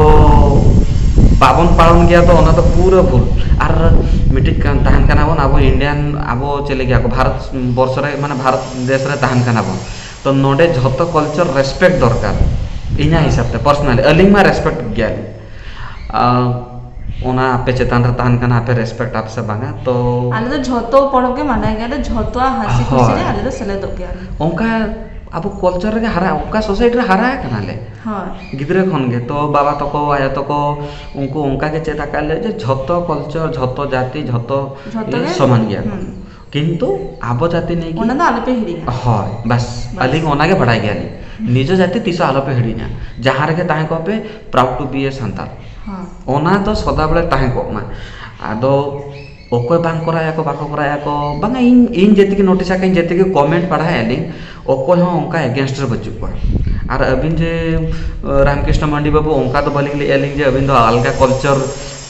ᱵᱟᱵᱚᱱ ᱯᱟᱲᱚᱱ ᱜᱮᱭᱟ ᱫᱚ ᱚᱱᱟ ᱫᱚ ᱯᱩᱨᱟᱹ ᱵᱷᱩᱞ᱾ ᱟᱨ ᱢᱤᱫᱴᱤᱡ ᱛᱟᱦᱮᱱ ᱠᱟᱱᱟ ᱵᱚᱱ ᱟᱵᱚ ᱤᱱᱰᱤᱭᱟᱱ ᱟᱵᱚ ᱪᱮᱫ ᱞᱟᱹᱭ ᱜᱮᱭᱟ ᱠᱚ ᱵᱷᱟᱨᱚᱛ ᱵᱚᱨᱥᱚ ᱨᱮ ᱢᱟᱱᱮ ᱵᱷᱟᱨᱚᱛ ᱫᱮᱥ ᱨᱮ ᱛᱟᱦᱮᱱ ᱠᱟᱱᱟ ᱵᱚᱱ᱾ ᱛᱚ ᱱᱚᱰᱮ ᱡᱷᱚᱛᱚ ᱠᱟᱞᱪᱟᱨ ᱨᱮᱥᱯᱮᱠᱴ ᱫᱚᱨᱠᱟᱨ ᱤᱧᱟᱹᱜ ᱦᱤᱥᱟᱹᱵ ᱛᱮ ᱯᱟᱨᱥᱚᱱᱟᱞᱤ ᱟᱹᱞᱤᱧ ᱢᱟ ᱨᱮᱥᱯᱮᱠᱴ ᱜᱮᱭᱟ ᱞᱤᱧ ᱚᱱᱟ ᱟᱯᱮ ᱪᱮᱛᱟᱱ ᱨᱮ ᱛᱟᱦᱮᱱ ᱠᱟᱱᱟ ᱟᱯᱮ ᱨᱮᱥᱯᱮᱠᱴ ᱟᱯᱮ ᱥᱮ ᱵᱟᱝᱟ ᱛᱚ ᱟᱞᱮ ᱫᱚ ᱡᱷᱚᱛᱚ ᱯᱚᱨᱚᱵᱽ ᱜᱮ ᱢᱟᱱᱟᱣ ᱜᱮᱭᱟᱞᱮ ᱡᱷᱚᱛᱚᱣᱟᱜ ᱦᱟᱹᱥᱤ ᱠᱷᱩᱥᱤ ᱨᱮ ᱟᱞᱮ ᱫᱚ ᱥᱮᱞᱮᱫᱚᱜ ᱜᱮᱭᱟᱞᱮ ᱚᱱᱠᱟ ᱟᱵᱚ ᱠᱟᱞᱪᱟᱨ ᱨᱮᱜᱮ ᱦᱟᱨᱟ ᱚᱱᱠᱟ ᱥᱳᱥᱟᱭᱤᱴᱤ ᱨᱮ ᱦᱟᱨᱟ ᱠᱟᱱᱟᱞᱮ ᱦᱳᱭ ᱜᱤᱫᱽᱨᱟᱹ ᱠᱷᱚᱱ ᱜᱮ ᱛᱚ ᱵᱟᱵᱟ ᱛᱟᱠᱚ ᱟᱭᱳ ᱛᱟᱠᱚ ᱩᱱᱠᱩ ᱚᱱᱠᱟ ᱜᱮ ᱪᱮᱫ ᱟᱠᱟᱫ ᱞᱮᱭᱟ ᱡᱮ ᱡᱷᱚᱛᱚ ᱠᱟᱞᱪᱟᱨ ᱡᱷᱚᱛᱚ ᱡᱟᱹᱛᱤ ᱡᱷᱚᱛᱚ ᱡᱷᱚᱛᱚ ᱜᱮ ᱥᱚᱢᱟᱱ ᱜᱮᱭᱟ ᱠᱚ ᱠᱤᱱᱛᱩ ᱟᱵᱚ ᱡᱟᱹᱛᱤ ᱱᱤᱭᱮ ᱚᱱᱟ ᱫᱚ ᱟᱞᱚᱯᱮ ᱦᱤᱲᱤᱧᱟ ᱦᱳᱭ ᱵᱟᱥ ᱟᱹᱞᱤᱧ ᱚᱱᱟ ᱜᱮ ᱵᱟᱲᱟᱭ ᱜᱮᱭᱟᱞᱤᱧ ᱱᱤᱡᱮ ᱡᱟᱹᱛᱤ ᱛᱤᱥ ᱦᱚᱸ ᱟᱞᱚᱯᱮ ᱦᱤᱲᱤᱧᱟ ᱡᱟᱦᱟᱸ ᱨᱮᱜᱮ ᱛᱟᱦᱮᱸ ᱠᱚᱜ ᱯᱮ proud to be a Santal ᱚᱱᱟ ᱫᱚ ᱥᱚᱫᱟ ᱵᱮᱲᱟ ᱛᱟᱦᱮᱸ ᱠᱚᱜ ᱢᱟ ᱟᱫᱚ ᱚᱠᱚᱭ ᱵᱟᱝ ᱠᱚᱨᱟᱣ ᱮᱫᱟᱠᱚ ᱵᱟᱠᱚ ᱠᱚᱨᱟᱣ ᱮᱫᱟᱠᱚ ᱵᱟᱝᱟ ᱤᱧ ᱤᱧ ᱡᱟᱹᱛᱤ ᱜᱮ ᱱᱳᱴᱤᱥ ᱟᱠᱟᱫ ᱤᱧ ᱡᱟᱹᱛᱤ ᱜᱮ ᱠᱚᱢᱮᱱᱴ ᱯᱟᱲᱦᱟᱣᱮᱫ ᱟᱹᱞᱤᱧ ᱚᱠᱚᱭ ᱦᱚᱸ ᱚᱱᱠᱟ ᱮᱜᱮᱱᱥᱴ ᱨᱮ ᱵᱟᱹᱪᱩᱜ ᱠᱚᱣᱟ ᱟᱨ ᱟᱹᱵᱤᱱ ᱡᱮ ᱨᱟᱢᱠᱨᱤᱥᱱᱚ ᱢᱟᱹᱱᱰᱤ ᱵᱟᱹᱵᱩ ᱚᱱᱠᱟ ᱫᱚ ᱵᱟᱹᱞᱤᱧ ᱞᱟᱹᱭᱮᱫᱼᱟ ᱞᱤᱧ ᱡᱮ ᱟᱹᱵᱤᱱ ᱫᱚ ᱟᱞᱜᱟ ᱠᱟᱞᱪᱟᱨ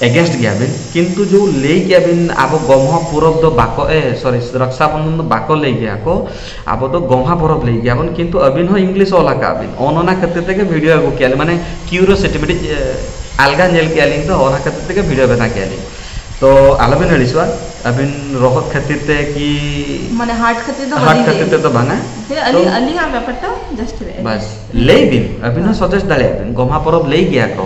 ᱮᱜᱮᱱᱥᱴ ᱜᱮᱭᱟ ᱵᱤᱱ ᱠᱤᱱᱛᱩ ᱡᱳ ᱞᱟᱹᱭ ᱠᱮᱜᱼᱟ ᱵᱤᱱ ᱟᱵᱚ ᱜᱚᱢᱦᱟ ᱯᱚᱨᱚᱵᱽ ᱫᱚ ᱵᱟᱠᱚ ᱮ ᱥᱚᱨᱤ ᱨᱟᱠᱥᱟ ᱵᱚᱱᱫᱷᱚᱱ ᱫᱚ ᱵᱟᱠᱚ ᱞᱟᱹᱭ ᱜᱮᱭᱟ ᱠᱚ ᱟᱵᱚ ᱫᱚ ᱜᱚᱢᱦᱟ ᱯᱚᱨᱚᱵᱽ ᱞᱟᱹᱭ ᱜᱮᱭᱟ ᱵᱚᱱ ᱠᱤᱱᱛᱩ ᱟᱹᱵᱤᱱ ᱦᱚᱸ ᱤᱝᱞᱤᱥ ᱚᱞ ᱟᱠᱟᱜᱼᱟ ᱵᱤᱱ ᱚᱱ ᱚᱱᱟ ᱠᱷᱟᱹᱛᱤᱨ ᱛᱮᱜᱮ ᱵᱷᱤᱰᱤᱭᱳ ᱟᱹᱜᱩ ᱠᱮᱜᱼᱟ ᱞᱤᱧ ᱢᱟᱱᱮ ᱠᱤᱭᱩᱨᱳᱥᱤᱴᱤ ᱢᱤᱫᱴᱤᱡ ᱟᱞᱜᱟ ᱧᱮᱞ ᱠᱮᱜᱼᱟ ᱞᱤᱧ ᱛᱚ ᱚᱱᱟ ᱠᱷᱟᱹᱛᱤᱨ ᱛᱮᱜᱮ ᱵᱷᱤᱰᱤᱭᱳ ᱵᱮᱱᱟᱣ ᱠᱮᱜᱼᱟ ᱞᱤᱧ ᱛᱚ ᱟᱞᱚ ᱵᱤᱱ ᱟᱹᱲᱤᱥᱚᱜᱼᱟ ᱟᱹᱵᱤᱱ ᱨᱚᱦᱚᱫ ᱠᱷᱟᱹᱛᱤᱨ ᱛᱮ ᱠᱤ ᱢᱟᱱᱮ ᱦᱟᱨᱴ ᱠᱷᱟᱹᱛᱤᱨ ᱫᱚ ᱦᱟᱨᱴ ᱵᱟᱹᱞᱤᱧ ᱞᱟᱹᱭ ᱠᱷᱟᱹᱛᱤᱨ ᱛᱮᱫᱚ ᱵᱟᱝᱟ ᱟᱹᱞᱤᱧ ᱛᱚ ᱟᱹᱞᱤᱧ ᱟᱹᱞᱤᱧᱟᱜ ᱵᱮᱯᱟᱨ ᱴᱟ ᱡᱟᱥᱴ ᱞᱟᱹᱭ ᱟᱹᱞᱤᱧ ᱵᱟᱥ ᱞᱟᱹᱭ ᱵᱤᱱ ᱟᱹᱵᱤᱱ ᱦᱚᱸ ᱥᱟᱡᱮᱥᱴ ᱫᱟᱲᱮᱭᱟᱜᱼᱟ ᱵᱤᱱ ᱜᱚᱢᱦᱟ ᱯᱚᱨᱚᱵᱽ ᱞᱟᱹᱭ ᱜᱮᱭᱟ ᱠᱚ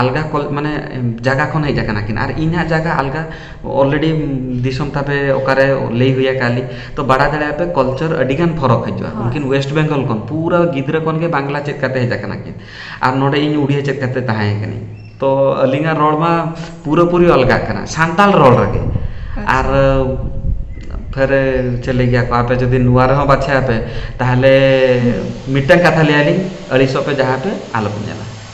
ᱟᱞᱜᱟ ᱠᱚᱞ ᱢᱟᱱᱮ ᱡᱟᱭᱜᱟ ᱠᱷᱚᱱ ᱦᱮᱡ ᱟᱠᱟᱱᱟ ᱠᱤᱱ ᱟᱨ ᱤᱧ ᱦᱟᱸᱜ ᱡᱟᱭᱜᱟ ᱟᱞᱜᱟ ᱚᱞᱨᱮᱰᱤ ᱫᱤᱥᱚᱢ ᱛᱟᱯᱮ ᱚᱠᱟᱨᱮ ᱞᱟᱹᱭ ᱦᱩᱭ ᱟᱠᱟᱫ ᱞᱤᱧ ᱛᱳ ᱵᱟᱲᱟᱭ ᱫᱟᱲᱮᱭᱟᱜᱼᱟ ᱯᱮ ᱠᱟᱞᱪᱟᱨ ᱟᱹᱰᱤᱜᱟᱱ ᱯᱷᱟᱨᱟᱠ ᱦᱤᱡᱩᱜᱼᱟ ᱩᱱᱠᱤᱱ ᱳᱭᱮᱥᱴ ᱵᱮᱝᱜᱚᱞ ᱠᱷᱚᱱ ᱯᱩᱨᱟᱹ ᱜᱤᱫᱽᱨᱟᱹ ᱠᱷᱚᱱ ᱜᱮ ᱵᱟᱝᱞᱟ ᱪᱮᱫ ᱠᱟᱛᱮᱫ ᱦᱮᱡ ᱟᱠᱟᱱᱟ ᱠᱤᱱ ᱟᱨ ᱱᱚᱰᱮ ᱤᱧ ᱩᱲᱤᱭᱟ ᱪᱮᱫ ᱠᱟᱛᱮᱫ ᱛᱟᱦᱮᱸᱭ ᱠᱟᱹᱱᱟᱹᱧ ᱛᱳ ᱟᱹᱞᱤᱧᱟᱜ ᱨᱚᱲ ᱢᱟ ᱯᱩᱨᱟᱹ ᱯᱩᱨᱤ ᱟᱞᱜᱟᱜ ᱠᱟᱱᱟ ᱥᱟᱱᱛᱟᱲ ᱨᱚᱲ ᱨᱮᱜᱮ ᱟᱨ ᱯᱷᱮᱨ ᱪᱮᱫ ᱞᱟᱹᱭ ᱜᱮᱭᱟ ᱠᱚ ᱟᱯᱮ ᱡᱩᱫᱤ ᱱᱚᱣᱟ ᱨᱮᱦᱚᱸ ᱵᱟᱪᱷᱟᱭᱟᱯᱮ ᱛᱟᱦᱚᱞᱮ ᱢᱤᱫᱴᱟᱱ ᱠᱟᱛᱷᱟ ᱞᱟᱹᱭ ᱟᱹᱞᱤᱧ ᱟᱹᱲᱤᱥᱚᱜ ᱯᱮ ᱡᱟᱦᱟᱸ ᱯᱮ ᱟᱞᱚᱯᱮ ᱧᱮᱞᱟ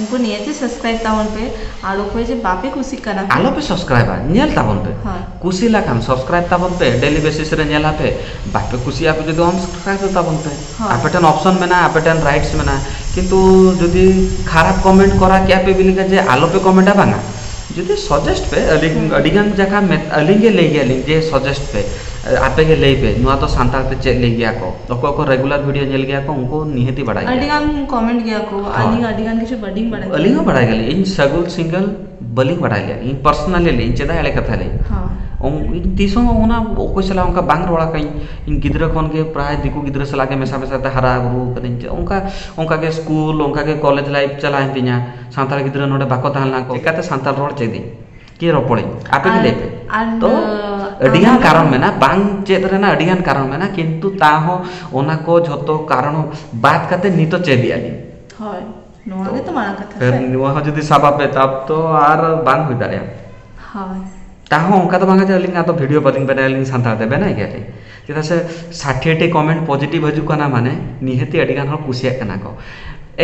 ᱩᱱᱠᱩ ᱱᱤᱭᱟᱹᱛᱮ ᱥᱟᱵᱥᱠᱨᱟᱭᱤᱵ ᱛᱟᱵᱚᱱ ᱯᱮ ᱟᱨ ᱚᱠᱚᱭ ᱡᱮ ᱵᱟᱯᱮ ᱠᱩᱥᱤᱜ ᱠᱟᱱᱟ᱾ ᱟᱞᱚ ᱯᱮ ᱥᱟᱵᱥᱠᱨᱟᱭᱤᱵᱟ ᱧᱮᱞ ᱛᱟᱵᱚᱱ ᱯᱮ ᱠᱩᱥᱤ ᱞᱮᱠᱷᱟᱱ ᱥᱟᱵᱥᱠᱨᱟᱭᱤᱵ ᱛᱟᱵᱚᱱ ᱯᱮ ᱰᱮᱞᱤ ᱵᱮᱥᱤᱥ ᱨᱮ ᱧᱮᱞ ᱟᱯᱮ ᱵᱟᱯᱮ ᱠᱩᱥᱤᱜᱼᱟ ᱟᱯᱮ ᱡᱩᱫᱤ ᱟᱱᱥᱟᱵᱥᱠᱨᱟᱭᱤᱵ ᱛᱟᱵᱚᱱ ᱯᱮ ᱟᱯᱮ ᱴᱷᱮᱱ ᱚᱯᱥᱚᱱ ᱢᱮᱱᱟᱜᱼᱟ ᱟᱯᱮ ᱴᱷᱮᱱ ᱨᱟᱭᱤᱴᱥ ᱢᱮᱱᱟᱜᱼᱟ ᱠᱤᱱᱛᱩ ᱡᱩᱫᱤ ᱠᱷᱟᱨᱟᱯ ᱠᱚᱢᱮᱱᱴ ᱠᱚᱨᱟᱣ ᱠᱮᱜᱼᱟ ᱯᱮ ᱵᱤᱱ ᱞᱟᱹᱭᱟ ᱡᱮ ᱟᱞᱚ ᱯᱮ ᱠᱚᱢᱮᱱᱴᱟ ᱵᱟᱝᱼᱟ ᱡᱩᱫᱤ ᱥᱚᱡᱮᱥᱴ ᱯᱮ ᱟᱹᱞᱤᱧ ᱟᱹᱰᱤ ᱜᱟᱱ ᱡᱟᱭᱜᱟ ᱟᱹᱞᱤᱧ ᱜᱮ ᱞᱟᱹᱭ ᱜᱮᱭᱟ ᱞᱤᱧ ᱡᱮ ᱥᱚᱡᱮᱥᱴ ᱯᱮ ᱟᱯᱮ ᱜᱮ ᱞᱟᱹᱭ ᱯᱮ ᱱᱚᱣᱟ ᱫᱚ ᱥᱟᱱᱛᱟᱲ ᱛᱮ ᱪᱮᱫ ᱞᱟᱹᱭ ᱜᱮᱭᱟ ᱠᱚ ᱚᱠᱚᱭ ᱠᱚ ᱨᱮᱜᱩᱞᱟᱨ ᱵᱷᱤᱰᱤᱭᱳ ᱧᱮᱞ ᱜᱮᱭᱟ ᱠᱚ ᱩᱱᱠᱩ ᱱᱤᱦᱟᱹᱛᱤ ᱵᱟᱲᱟᱭ ᱜᱮᱭᱟ ᱟᱹᱰᱤ ᱜᱟᱱ ᱠᱚᱢᱮᱱᱴ ᱜᱮᱭᱟ ᱠᱚ ᱟᱹᱞᱤᱧ ᱟᱹᱰᱤ ᱜᱟᱱ ᱠᱤᱪᱷᱩ ᱵᱟᱹᱞᱤᱧ ᱵᱟᱲᱟᱭ ᱟᱹᱞᱤᱧ ᱦᱚᱸ ᱵᱟᱲᱟᱭ ᱜᱮᱭᱟᱞᱤᱧ ᱤᱧ ᱥᱟᱹᱜᱩᱱ ᱥᱤᱝᱜᱮᱞ ᱵᱟᱹᱞᱤᱧ ᱵᱟᱲᱟᱭ ᱞᱮᱭᱟ ᱤᱧ ᱯᱟᱨᱥᱚᱱᱟᱞᱤ ᱞᱟᱹᱭᱟᱹᱧ ᱪᱮᱫᱟᱜ ᱮᱲᱮ ᱠᱟᱛᱷᱟ ᱞᱟᱹᱭ ᱦᱳᱭ ᱛᱤᱥ ᱦᱚᱸ ᱚᱱᱟ ᱚᱠᱚᱭ ᱥᱟᱞᱟᱜ ᱚᱱᱠᱟ ᱵᱟᱝ ᱨᱚᱲ ᱟᱠᱟᱫᱟᱹᱧ ᱤᱧ ᱜᱤᱫᱽᱨᱟᱹ ᱠᱷᱚᱱ ᱜᱮ ᱯᱨᱟᱭ ᱫᱤᱠᱩ ᱜᱤᱫᱽᱨᱟᱹ ᱥᱟᱞᱟᱜ ᱜᱮ ᱢᱮᱥᱟ ᱢᱮᱥᱟ ᱛᱮ ᱦᱟᱨᱟ ᱵᱩᱨᱩ ᱟᱠᱟᱱᱟᱹᱧ ᱪᱮ ᱚᱱᱠᱟ ᱚᱱᱠᱟ ᱜᱮ ᱥᱠᱩᱞ ᱚᱱᱠᱟ ᱜᱮ ᱠᱚᱞᱮᱡᱽ ᱞᱟᱭᱤᱯᱷ ᱪᱟᱞᱟᱣᱮᱱ ᱛᱤᱧᱟᱹ ᱥᱟᱱᱛᱟᱲ ᱜᱤᱫᱽᱨᱟᱹ ᱱᱚᱰᱮ ᱵᱟᱠᱚ ᱛᱟᱦᱮᱸ ᱞᱮᱱᱟ ᱪᱤᱠᱟᱹᱛᱮ ᱥᱟᱱᱛᱟᱲ ᱨᱚᱲ ᱪᱮᱫ ᱤᱧ ᱠᱤ ᱨᱚᱯᱚᱲᱤᱧ ᱟᱯᱮ ᱜᱮ ᱞᱟᱹᱭ ᱯᱮ ᱛᱚ ᱟᱹᱰᱤᱜᱟᱱ ᱠᱟᱨᱚᱱ ᱢᱮᱱᱟᱜᱼᱟ ᱵᱟᱝ ᱪᱮᱫ ᱨᱮᱱᱟᱜ ᱟᱹᱰᱤᱜᱟᱱ ᱠᱟᱨᱚᱱ ᱢᱮᱱᱟᱜᱼᱟ ᱠᱤᱱᱛᱩ ᱛᱟᱣᱦᱚᱸ ᱚᱱᱟ ᱠᱚ ᱡᱷᱚᱛᱚ ᱠᱟᱨᱚᱱ ᱵᱟᱫ ᱠᱟᱛᱮ ᱱᱤᱛᱚᱜ ᱪᱮᱫ ᱮᱜᱼᱟ ᱞᱤᱧ ᱦᱳᱭ ᱱᱚᱣᱟ ᱜᱮᱛᱚ ᱢᱟᱨᱟᱝ ᱠᱟᱛᱷᱟ ᱥᱮ ᱱᱚᱣᱟ ᱦᱚᱸ ᱡᱩᱫᱤ ᱥᱟᱵ ᱟᱯᱮ ᱛᱟᱵ ᱛᱚ ᱟᱨ ᱵᱟᱝ ᱦᱩᱭ ᱫᱟᱲᱮᱭᱟᱜᱼᱟ ᱦᱳᱭ ᱛᱟᱣᱦᱚᱸ ᱚᱱᱠᱟ ᱫᱚ ᱵᱟᱝᱟ ᱡᱮ ᱟᱹᱞᱤᱧ ᱟᱫᱚ ᱵᱷᱤᱰᱤᱭᱳ ᱵᱟᱹᱞᱤᱧ ᱵᱮᱱᱟᱣᱟ ᱟᱹᱞᱤᱧ ᱥᱟᱱᱛᱟᱲ ᱛᱮ ᱵᱮᱱᱟᱣ ᱜᱮᱭᱟᱞᱤᱧ ᱪᱮᱫᱟᱜ ᱥᱮ ᱥᱟᱴᱷᱮᱴᱤ ᱠᱚᱢᱮᱱᱴ ᱯᱚᱡᱮᱴᱤᱵᱷ ᱦᱤᱡᱩᱜ ᱠᱟᱱᱟ ᱢᱟᱱᱮ ᱱᱤᱦᱟᱹᱛ ᱜᱮ ᱟᱹᱰᱤᱜᱟᱱ ᱦᱚᱲ ᱠᱩᱥᱤᱭᱟᱜ ᱠᱟᱱᱟ ᱠᱚ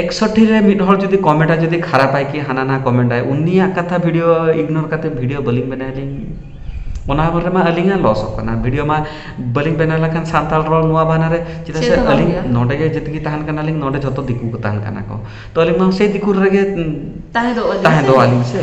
ᱮᱠᱥᱚᱴᱤ ᱨᱮ ᱢᱤᱫ ᱦᱚᱲ ᱡᱩᱫᱤ ᱠᱚᱢᱮᱱᱴ ᱟᱭ ᱡᱩᱫᱤ ᱠᱷᱟᱨᱟᱯ ᱟᱭ ᱠᱤ ᱦᱟᱱᱟ ᱱᱚᱣᱟ ᱠᱚᱢᱮᱱᱴ ᱟᱭ ᱩᱱᱤᱭᱟᱜ ᱠᱟᱛᱷᱟ ᱵᱷᱤᱰᱭᱳ ᱤᱜᱽᱱᱳᱨ ᱠᱟᱛᱮ ᱵᱷᱤᱰᱭᱳ ᱵᱟᱹᱞᱤᱧ ᱵᱮᱱᱟᱣ ᱞᱤᱧ ᱚᱱᱟ ᱦᱚᱨ ᱨᱮᱢᱟ ᱟᱹᱞᱤᱧᱟᱜ ᱞᱚᱥᱚᱜ ᱠᱟᱱᱟ ᱵᱷᱤᱰᱭᱳ ᱢᱟ ᱵᱟᱹᱞᱤᱧ ᱵᱮᱱᱟᱣ ᱞᱮᱠᱷᱟᱱ ᱥᱟᱱᱛᱟᱲ ᱨᱚᱲ ᱱᱚᱣᱟ ᱵᱟᱱᱟᱨ ᱨᱮ ᱪᱮᱫᱟᱜ ᱥᱮ ᱟᱹᱞᱤᱧ ᱱᱚᱰᱮ ᱜᱮ ᱡᱮᱛᱮ ᱜᱮ ᱛᱟᱦᱮᱱ ᱠᱟᱱᱟᱞᱤᱧ ᱱᱚᱰᱮ ᱡᱷᱚᱛᱚ ᱫᱤᱠᱩ ᱠᱚ ᱛᱟᱦᱮᱱ ᱠᱟᱱᱟ ᱠᱚ ᱛᱚ ᱟᱹᱞᱤᱧ ᱢᱟ ᱥᱮᱭ ᱫᱤᱠᱩ ᱨᱮᱜᱮ ᱛᱟᱦᱮᱸ ᱫᱚᱜᱼᱟ ᱞᱤᱧ ᱥᱮ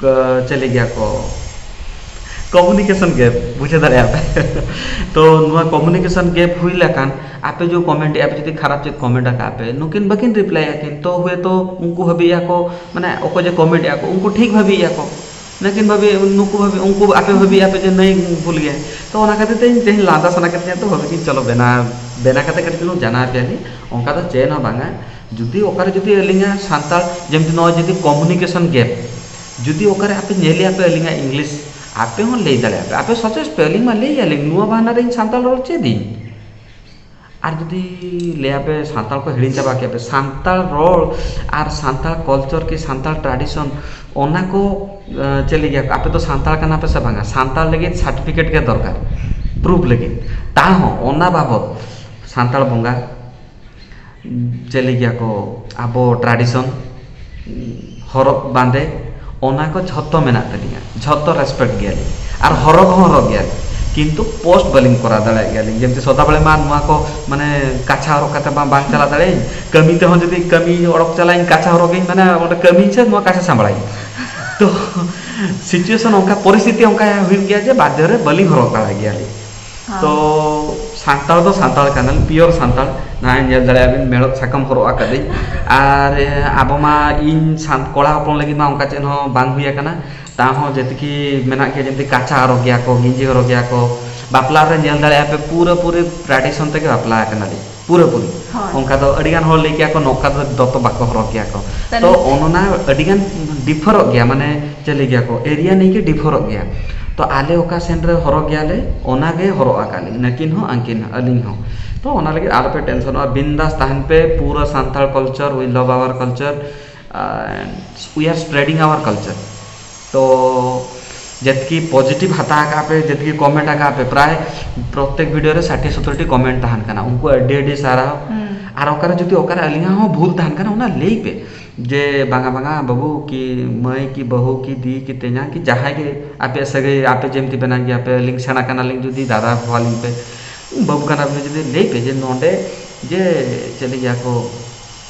ᱠᱚ ᱪᱟᱹᱞᱤ ᱜᱮᱭᱟ ᱠᱚ ᱠᱚᱢᱤᱱᱤᱠᱮᱥᱚᱱ ᱜᱮᱯ ᱵᱩᱡᱷᱟᱹᱣ ᱫᱟᱲᱮᱭᱟᱜ ᱯᱮ ᱛᱚ ᱱᱚᱣᱟ ᱠᱚᱢᱤᱱᱤᱠᱮᱥᱚᱱ ᱜᱮᱯ ᱦᱩᱭ ᱞᱮᱠᱷᱟᱱ ᱟᱯᱮ ᱡᱮ ᱠᱚᱢᱮᱱᱴ ᱮᱜᱼᱟ ᱯᱮ ᱡᱩᱫᱤ ᱠᱷᱟᱨᱟᱯ ᱪᱮᱫ ᱠᱚᱢᱮᱱᱴ ᱟᱠᱟᱫ ᱯᱮ ᱱᱩᱠᱤᱱ ᱵᱟᱹᱠᱤᱱ ᱨᱤᱯᱞᱟᱭ ᱮᱜᱼᱟ ᱠᱤᱱ ᱛᱚ ᱦᱳᱭᱛᱳ ᱩᱱᱠᱩ ᱵᱷᱟᱹᱵᱤᱭᱮᱫ ᱟᱠᱚ ᱢᱟᱱᱮ ᱚᱠᱚᱭ ᱡᱮ ᱠᱚᱢᱮᱱᱴ ᱮᱜᱼᱟ ᱠᱚ ᱩᱱᱠᱩ ᱴᱷᱤᱠ ᱵᱷᱟᱹᱵᱤᱭᱮᱫ ᱟᱠᱚ ᱱᱩᱠᱤᱱ ᱵᱷᱟᱹᱵᱤ ᱱᱩᱠᱩ ᱵᱷᱟᱹᱵᱤ ᱩᱱᱠᱩ ᱟᱯᱮ ᱵᱷᱟᱹᱵᱤᱭᱮᱫ ᱟᱯᱮ ᱡᱮ ᱱᱩᱭ ᱵᱷᱩᱞ ᱜᱮᱭᱟᱭ ᱛᱚ ᱚᱱᱟ ᱠᱷᱟᱹᱛᱤᱨ ᱛᱮ ᱤᱧ ᱛᱮᱦᱮᱧ ᱞᱟᱸᱫᱟ ᱥᱟᱱᱟ ᱠᱤᱫᱤᱧᱟ ᱛᱚ ᱵᱷᱟᱹᱵᱤᱭᱮᱫᱟᱹᱧ ᱪᱚᱞᱚ ᱵᱮᱱᱟᱣ ᱵᱮᱱᱟᱣ ᱠᱟᱛᱮᱫ ᱠᱟᱹᱴᱤᱡ ᱪᱩᱞᱩᱝ ᱡᱟᱱᱟᱣ ᱟᱯᱮᱭᱟᱞᱤᱧ ᱚᱱᱠᱟ ᱫᱚ ᱪᱮᱫ ᱦᱚᱸ ᱵᱟᱝᱟ ᱡᱩᱫᱤ ᱚᱠᱟᱨᱮ ᱡᱩᱫᱤ ᱟᱹᱞᱤᱧᱟᱜ ᱥᱟᱱᱛᱟᱲ ᱡᱮᱢᱛᱤ ᱱᱚᱜᱼᱚᱭ ᱡᱩᱫᱤ ᱠᱚᱢᱩᱱᱤᱠᱮᱥᱚᱱ ᱜᱮᱯ ᱡᱩᱫᱤ ᱚᱠᱟᱨᱮ ᱟᱯᱮ ᱧᱮᱞᱮᱜᱼᱟ ᱯᱮ ᱟᱹᱞᱤᱧᱟᱜ ᱤᱝᱞᱤᱥ ᱟᱯᱮ ᱦᱚᱸ ᱞᱟᱹᱭ ᱫᱟᱲᱮᱭᱟᱜᱼᱟ ᱯᱮ ᱟᱯᱮ ᱥᱟᱡᱮᱥᱴ ᱯᱮ ᱟᱹᱞᱤᱧ ᱢᱟ ᱞᱟᱹᱭ ᱟᱹᱞᱤᱧ ᱱᱚᱣᱟ ᱵᱟᱦᱱᱟ ᱨᱮ ᱤᱧ ᱥᱟᱱᱛᱟᱲ ᱨᱚᱲ ᱪᱮᱫ ᱤᱧ ᱟᱨ ᱡᱩᱫᱤ ᱞᱟᱹᱭ ᱟᱯᱮ ᱥᱟᱱᱛᱟᱲ ᱠᱚ ᱦᱤᱲᱤᱧ ᱪᱟᱵᱟ ᱠᱮᱜᱼᱟ ᱯᱮ ᱥᱟᱱᱛᱟᱲ ᱨᱚᱲ ᱟᱨ ᱥᱟᱱᱛᱟᱲ ᱠᱚᱞᱪᱚᱨ ᱠᱤ ᱥᱟᱱᱛᱟᱲ ᱴᱨᱟᱰᱤᱥᱚᱱ ᱚᱱᱟ ᱠᱚ ᱪᱮᱫ ᱞᱮᱠᱟ ᱟᱯᱮ ᱫᱚ ᱥᱟᱱᱛᱟᱲ ᱠᱟᱱᱟ ᱯᱮ ᱥᱮ ᱵᱟᱝᱟ ᱥᱟᱱᱛᱟᱲ ᱞᱟᱹᱜᱤᱫ ᱥᱟᱨᱴᱤᱯᱷᱤᱠᱮᱴ ᱜᱮ ᱫᱚᱨᱠᱟᱨ ᱯᱨᱩᱯᱷ ᱞᱟᱹᱜᱤᱫ ᱛᱟᱣ ᱦᱚᱸ ᱚᱱᱟ ᱵᱟᱵᱚᱫ ᱥᱟᱱᱛᱟᱲ ᱵᱚᱸᱜᱟ ᱪᱮᱫ ᱞᱟᱹᱭ ᱠᱮᱭᱟ ᱠᱚ ᱟᱵᱚ ᱴᱨᱟᱰᱤᱥᱚᱱ ᱦᱚᱨᱚᱜ ᱵᱟᱸᱫᱮ ᱚᱱᱟ ᱠᱚ ᱡᱷᱚᱛᱚ ᱢᱮᱱᱟᱜ ᱛᱟᱹᱞᱤᱧᱟ ᱡᱷᱚᱛᱚ ᱨᱮᱥᱯᱮᱠᱴ ᱜᱮᱭᱟᱞᱤᱧ ᱟᱨ ᱦᱚᱨᱚᱜᱽ ᱦᱚᱸ ᱦᱚᱨᱚᱜᱽ ᱜᱮᱭᱟᱞᱤᱧ ᱠᱤᱱᱛᱩ ᱯᱳᱥᱴ ᱵᱟᱹᱞᱤᱧ ᱠᱚᱨᱟᱣ ᱫᱟᱲᱮᱭᱟᱜ ᱜᱮᱭᱟᱞᱤᱧ ᱡᱮᱦᱮᱛᱩ ᱥᱚᱫᱟ ᱵᱮᱲᱟ ᱢᱟ ᱱᱚᱣᱟ ᱠᱚ ᱢᱟᱱᱮ ᱠᱟᱪᱷᱟ ᱦᱚᱨᱚᱜ ᱠᱟᱛᱮ ᱢᱟ ᱵᱟᱝ ᱪᱟᱞᱟᱜ ᱫᱟᱲᱮᱭᱟᱜ ᱟᱹᱧ ᱠᱟᱹᱢᱤ ᱛᱮᱦᱚᱸ ᱡᱩᱫᱤ ᱠᱟᱹᱢᱤ ᱚᱰᱚᱠ ᱪᱟᱞᱟᱜ ᱟᱹᱧ ᱠᱟᱪᱷᱟ ᱦᱚᱨᱚᱜᱽ ᱜᱤᱧ ᱢᱟᱱᱮ ᱚᱸᱰᱮ ᱠᱟᱹᱢᱤᱭᱟᱹᱧ ᱥᱮ ᱱᱚᱣᱟ ᱠᱟᱪᱷᱟ ᱥᱟᱢᱵᱽᱲᱟᱣᱤᱧ ᱛᱚ ᱥᱤᱪᱩᱭᱮᱥᱚᱱ ᱚᱱᱠᱟ ᱯᱚᱨᱤᱥᱛᱷᱤᱛᱤ ᱚᱱᱠᱟ ᱦᱩᱭᱩᱜ ᱜᱮᱭᱟ ᱡᱮ ᱵᱟᱫᱽᱫᱷᱚ ᱨᱮ ᱵᱟᱹᱞᱤᱧ ᱦᱚᱨᱚᱜ ᱫᱟᱲᱮᱭᱟᱜ ᱜᱮᱭᱟᱞᱤᱧ ᱛᱚ ᱥᱟᱱᱛᱟᱲ ᱫᱚ ᱥᱟᱱᱛᱟᱲ ᱠᱟᱱᱟᱞᱤᱧ ᱯᱤᱭᱳᱨ ᱥᱟᱱᱛᱟᱲ ᱱᱚᱜᱼᱚᱭ ᱧᱮᱞ ᱫᱟᱲᱮᱭᱟᱜ ᱵᱤᱱ ᱢᱮᱬᱦᱮᱫ ᱥᱟᱠᱟᱢ ᱦᱚᱨᱚᱜ ᱟᱠᱟᱫᱟᱹᱧ ᱟᱨ ᱟᱵᱚ ᱢᱟ ᱤᱧ ᱠᱚᱲᱟ ᱦᱚᱯᱚᱱ ᱞᱟᱹᱜᱤᱫ ᱢᱟ ᱚᱱᱠᱟ ᱪᱮᱫ ᱦᱚᱸ ᱵᱟᱝ ᱦᱩᱭ ᱟᱠᱟᱱᱟ ᱛᱟᱣ ᱦᱚᱸ ᱡᱮᱭᱥᱮ ᱠᱤ ᱢᱮᱱᱟᱜ ᱜᱮᱭᱟ ᱡᱮᱭᱥᱮ ᱠᱟᱪᱷᱟ ᱦᱚᱨᱚᱜᱽ ᱜᱮᱭᱟ ᱠᱚ ᱜᱮᱧᱡᱤ ᱦᱚᱨᱚᱜᱽ ᱜᱮᱭᱟ ᱠᱚ ᱵᱟᱯᱞᱟ ᱨᱮ ᱧᱮᱞ ᱫᱟᱲᱮᱭᱟᱜᱼᱟ ᱯᱮ ᱯᱩᱨᱟᱹᱯᱩᱨᱤ ᱴᱨᱟᱰᱤᱥᱚᱱ ᱛᱮᱜᱮ ᱵᱟᱯᱞᱟ ᱟᱠᱟᱱᱟᱞᱤᱧ ᱯᱩᱨᱟᱹᱯᱩᱨᱤ ᱦᱳᱭ ᱚᱱᱠᱟ ᱫᱚ ᱟᱹᱰᱤ ᱜᱟᱱ ᱦᱚᱲ ᱞᱟᱹᱭ ᱠᱮᱭᱟ ᱠᱚ ᱱᱚᱝᱠᱟ ᱫᱚ ᱫᱚᱛᱚ ᱵᱟᱠᱚ ᱦᱚᱨᱚᱜ ᱜᱮᱭᱟ ᱠᱚ ᱛᱟᱦᱚᱞᱮ ᱛᱚ ᱚᱱᱚᱱᱟ ᱟᱹᱰᱤ ᱜᱟᱱ ᱰᱤᱯᱷᱟᱨᱚᱜ ᱜᱮᱭᱟ ᱢᱟᱱᱮ ᱪᱮᱫ ᱞᱟᱹᱭ ᱜᱮᱭᱟ ᱠᱚ ᱮᱨᱤᱭᱟ ᱱᱤᱭᱮ ᱜᱮ ᱰᱤᱯᱷᱟᱨᱚᱜ ᱜᱮᱭᱟ ᱛᱚ ᱟᱞᱮ ᱚᱠᱟ ᱥᱮᱱ ᱨᱮ ᱦᱚᱨᱚᱜ ᱜᱮᱭᱟ ᱞᱮ ᱚᱱᱟ ᱜᱮ ᱦᱚᱨᱚᱜ ᱟᱠᱟᱫ ᱞᱤᱧ ᱱᱟᱹᱠᱤᱱ ᱦᱚᱸ ᱟᱹᱠᱤᱱ ᱦᱚᱸ ᱟᱹᱞᱤᱧ ᱦᱚᱸ ᱛᱚ ᱚᱱᱟ ᱞᱟᱹᱜᱤᱫ ᱟᱞᱚᱯᱮ ᱴᱮᱱᱥᱚᱱᱚᱜᱼᱟ ᱵᱤᱱᱫᱟᱥ ᱛᱟᱦᱮᱱ ᱯᱮ ᱯᱩᱨᱟᱹ Santal culture we love our culture and we are spreading our culture ᱛᱚ ᱡᱮᱛᱠᱤ ᱯᱚᱡᱤᱴᱤᱵᱷ ᱦᱟᱛᱟᱣ ᱟᱠᱟᱫ ᱯᱮ ᱡᱮᱛᱠᱤ ᱠᱚᱢᱮᱱᱴ ᱟᱠᱟᱫ ᱯᱮ ᱯᱨᱟᱭ ᱯᱨᱚᱛᱮᱠ ᱵᱷᱤᱰᱤᱭᱳ ᱨᱮ ᱥᱟᱴᱷᱤ ᱥᱚᱛᱚᱨᱴᱤ ᱠᱚᱢᱮᱱᱴ ᱛᱟᱦᱮᱱ ᱠᱟᱱᱟ ᱩᱱᱠᱩ ᱟᱹᱰᱤ ᱟᱹᱰᱤ ᱥᱟᱨᱦᱟᱣ ᱟᱨ ᱚᱠᱟᱨᱮ ᱡᱩᱫᱤ ᱚᱠᱟᱨᱮ ᱟᱹᱞᱤᱧᱟᱜ ᱦᱚᱸ ᱵᱷᱩᱞ ᱛᱟᱦᱮᱱ ᱠᱟᱱᱟ ᱚᱱᱟ ᱞᱟᱹᱭ ᱯᱮ ᱡᱮ ᱵᱟᱝᱟ ᱵᱟᱝᱟ ᱵᱟᱹᱵᱩ ᱠᱤ ᱢᱟᱹᱭ ᱠᱤ ᱵᱟᱹᱦᱩ ᱠᱤ ᱫᱤ ᱠᱤ ᱛᱮᱧᱟᱝ ᱠᱤ ᱡᱟᱦᱟᱸᱭ ᱜᱮ ᱟᱯᱮᱭᱟᱜ ᱥᱟᱹᱜᱟᱹᱭ ᱟᱯᱮ ᱡᱮᱢᱛᱤ ᱵᱮᱱᱟᱣ ᱜᱮᱭᱟᱯᱮ ᱟᱹᱞᱤᱧ ᱥᱮᱬᱟ ᱠᱟᱱᱟᱞᱤᱧ ᱡᱩᱫᱤ ᱫᱟᱫᱟ ᱦᱚᱦᱚ ᱟᱹᱞᱤᱧ ᱯᱮ ᱵᱟᱹᱵᱩ ᱠᱟᱱᱟᱯᱮ ᱡᱩᱫᱤ ᱞᱟᱹᱭ ᱯᱮ ᱡᱮ ᱱᱚᱰᱮ ᱡᱮ ᱪᱮᱫ ᱞᱟᱹᱭᱟᱠᱚ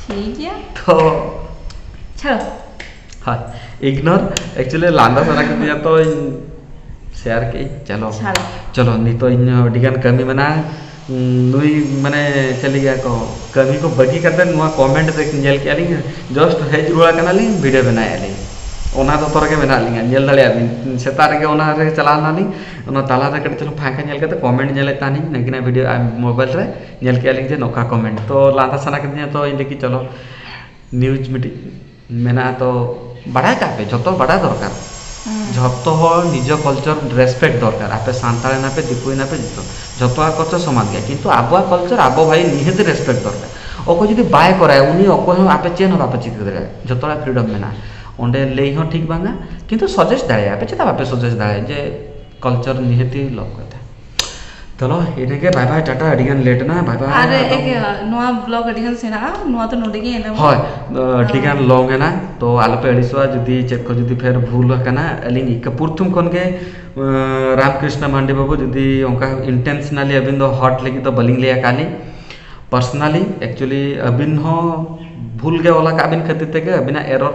ᱴᱷᱤᱠ ᱜᱮᱭᱟ ᱛᱚ ᱪᱷᱟᱲ ᱦᱳᱭ ᱤᱜᱱᱳᱨ ᱮᱠᱪᱩᱭᱮᱞᱤ ᱞᱟᱸᱫᱟ ᱥᱟᱱᱟ ᱠᱤᱫᱤᱧᱟ ᱛᱚ ᱥᱮᱭᱟᱨ ᱠᱮᱜ ᱤᱧ ᱪᱚᱞᱚ ᱪᱷᱟᱲ ᱪᱚᱞᱚ ᱱᱤᱛᱚᱜ ᱤᱧ ᱦᱚᱸ ᱟᱹᱰᱤᱜᱟᱱ ᱠᱟᱹᱢᱤ ᱢᱮᱱᱟᱜᱼᱟ ᱱᱩᱭ ᱢᱟᱱᱮ ᱪᱮᱫ ᱞᱟᱹᱭᱟ ᱠᱚ ᱠᱟᱹᱢᱤ ᱠᱚ ᱵᱟᱹᱜᱤ ᱠᱟᱛᱮ ᱱᱚᱣᱟ ᱠᱚᱢᱮᱱᱴ ᱨᱮ ᱧᱮᱞ ᱠᱮᱜᱼᱟ ᱞᱤᱧ ᱡᱟᱥᱴ ᱦᱮᱡ ᱨᱩᱣᱟᱹᱲ ᱠᱟᱱᱟᱞᱤᱧ ᱵᱷᱤᱰᱤᱭᱳ ᱵᱮᱱᱟᱣᱮᱜᱼᱟ ᱞᱤᱧ ᱚᱱᱟ ᱫᱚᱛᱚ ᱨᱮᱜᱮ ᱢᱮᱱᱟᱜ ᱞᱤᱧᱟ ᱧᱮᱞ ᱫᱟᱲᱮᱭᱟᱜ ᱵᱤᱱ ᱥᱮᱛᱟᱜ ᱨᱮᱜᱮ ᱚᱱᱟ ᱨᱮ ᱪᱟᱞᱟᱣ ᱱᱟᱞᱤᱧ ᱚᱱᱟ ᱛᱟᱞᱟᱨᱮ ᱠᱟᱹᱴᱤᱡ ᱪᱩᱞᱩᱝ ᱯᱷᱟᱸᱠᱟ ᱧᱮᱞ ᱠᱟᱛᱮ ᱠᱚᱢᱮᱱᱴ ᱧᱮᱞᱮᱜ ᱛᱟᱦᱮᱱᱤᱧ ᱱᱟᱜᱤᱱᱟᱜ ᱵᱷᱤᱰᱤᱭᱳ ᱢᱳᱵᱟᱭᱤᱞ ᱨᱮ ᱧᱮᱞ ᱠᱮᱜᱼᱟ ᱞᱤᱧ ᱡᱮ ᱱᱚᱝᱠᱟ ᱠᱚ ᱢᱮᱱᱟ ᱛᱚ ᱞᱟᱸᱫᱟ ᱥᱟᱱᱟ ᱠᱤᱫᱤᱧᱟ ᱛᱚ ᱤᱧ ᱞᱟᱹᱭ ᱠᱮᱜᱼᱟ ᱪᱚᱞᱚ ᱱᱤᱭᱩᱡᱽ ᱢᱤᱫᱴᱤᱡ ᱢᱮᱱᱟᱜᱼᱟ ᱛᱚ ᱵᱟᱲᱟᱭ ᱠᱟᱜ ᱯᱮ ᱡᱷᱚᱛᱚ ᱵᱟᱲᱟᱭ ᱫᱚᱨᱠᱟᱨ ᱡᱷᱚᱛᱚ ᱦᱚᱲ ᱱᱤᱡᱮᱨ ᱠᱟᱞᱪᱟᱨ ᱨᱮᱥᱯᱮᱠᱴ ᱫᱚᱨᱠᱟᱨ ᱟᱯᱮ ᱥᱟᱱᱛᱟᱲ ᱮᱱᱟᱯᱮ ᱫᱤᱠᱩ ᱮᱱᱟᱯᱮ ᱡᱚᱛᱚ ᱡᱚᱛᱚᱣᱟᱜ ᱠᱟᱞᱪᱟᱨ ᱥᱚᱢᱟᱱ ᱜᱮᱭᱟ ᱠᱤᱱᱛᱩ ᱟᱵᱚᱣᱟᱜ ᱠᱟᱞᱪᱟᱨ ᱟᱵᱚ ᱵᱷᱟᱭ ᱱᱤᱦᱟᱹᱛ ᱨᱮᱥᱯᱮᱠᱴ ᱫᱚᱨᱠᱟᱨ ᱚᱠᱚᱭ ᱡᱩᱫᱤ ᱵᱟᱭ ᱠᱚᱨᱟᱣ ᱩᱱᱤ ᱚᱠᱚᱭ ᱦᱚᱸ ᱟᱯᱮ ᱪᱮᱫ ᱦᱚᱸ ᱵᱟᱯᱮ ᱪᱤᱠᱟᱹ ᱫᱟᱲᱮᱭᱟᱜᱼᱟ ᱡᱚᱛᱚ ᱦᱚᱲᱟᱜ ᱯᱷᱨᱤᱰᱚᱢ ᱢᱮᱱᱟᱜᱼᱟ ᱚᱸᱰᱮ ᱞᱟᱹᱭ ᱦᱚᱸ ᱴᱷᱤᱠ ᱵᱟᱝᱟ ᱠᱤᱱᱛᱩ ᱥᱟᱡᱮᱥᱴ ᱫᱟᱲᱮᱭᱟᱜᱼᱟ ᱯᱮ ᱪᱮᱫᱟᱜ ᱵᱟᱯᱮ ᱥᱟᱡᱮᱥᱴ ᱫᱟᱲᱮᱭᱟᱜᱼᱟ ᱡᱮ ᱠᱟᱞᱪᱟᱨ ᱱᱤᱦᱟᱹᱛ ᱜᱮ ᱞᱟᱹᱠᱛᱤ ᱪᱚᱞᱚ ᱤᱱᱟᱹᱜᱮ ᱵᱟᱭ ᱵᱟᱭ ᱴᱟᱴᱟ ᱟᱹᱰᱤ ᱜᱟᱱ ᱞᱮᱴ ᱮᱱᱟ ᱵᱟᱭ ᱵᱟᱭ ᱟᱨ ᱱᱚᱣᱟ ᱵᱞᱚᱜᱽ ᱟᱹᱰᱤ ᱜᱟᱱ ᱥᱮᱬᱟᱜᱼᱟ ᱱᱚᱣᱟ ᱫᱚ ᱱᱚᱰᱮ ᱜᱮ ᱮᱱᱰᱚᱜᱼᱟ ᱦᱳᱭ ᱟᱹᱰᱤ ᱜᱟᱱ ᱞᱚᱝ ᱮᱱᱟ ᱛᱚ ᱟᱞᱚ ᱯᱮ ᱟᱹᱲᱤᱥᱚᱜᱼᱟ ᱡᱩᱫᱤ ᱪᱮᱫ ᱠᱚ ᱡᱩᱫᱤ ᱯᱷᱮᱨ ᱵᱷᱩᱞ ᱟᱠᱟᱱᱟ ᱟᱹᱞᱤᱧ ᱤᱠᱟᱹ ᱯᱨᱚᱛᱷᱚᱢ ᱠᱷᱚᱱ ᱜᱮ ᱨᱟᱢ ᱠᱨᱤᱥᱱᱟ ᱢᱟᱱᱰᱤ ᱵᱟᱹᱵᱩ ᱡᱩᱫᱤ ᱚᱱᱠᱟ ᱤᱱᱴᱮᱱᱥᱱᱟᱞᱤ ᱟᱹᱵᱤᱱ ᱫᱚ ᱦᱟᱨᱴ ᱞᱟᱹᱜᱤᱫ ᱫᱚ ᱵᱟᱹᱞᱤᱧ ᱞᱟᱹᱭ ᱟᱠᱟᱫ ᱞᱤᱧ ᱯᱟᱨᱥᱚᱱᱟᱞᱤ ᱮᱠᱪᱩᱞᱤ ᱟᱹᱵᱤᱱ ᱦᱚᱸ ᱵᱷᱩᱞ ᱜᱮ ᱚᱞ ᱟᱠᱟᱫ ᱵᱤᱱ ᱠᱷᱟᱹᱛᱤᱨ ᱛᱮᱜᱮ ᱟᱹᱵᱤᱱᱟᱜ ᱮᱨᱚᱨ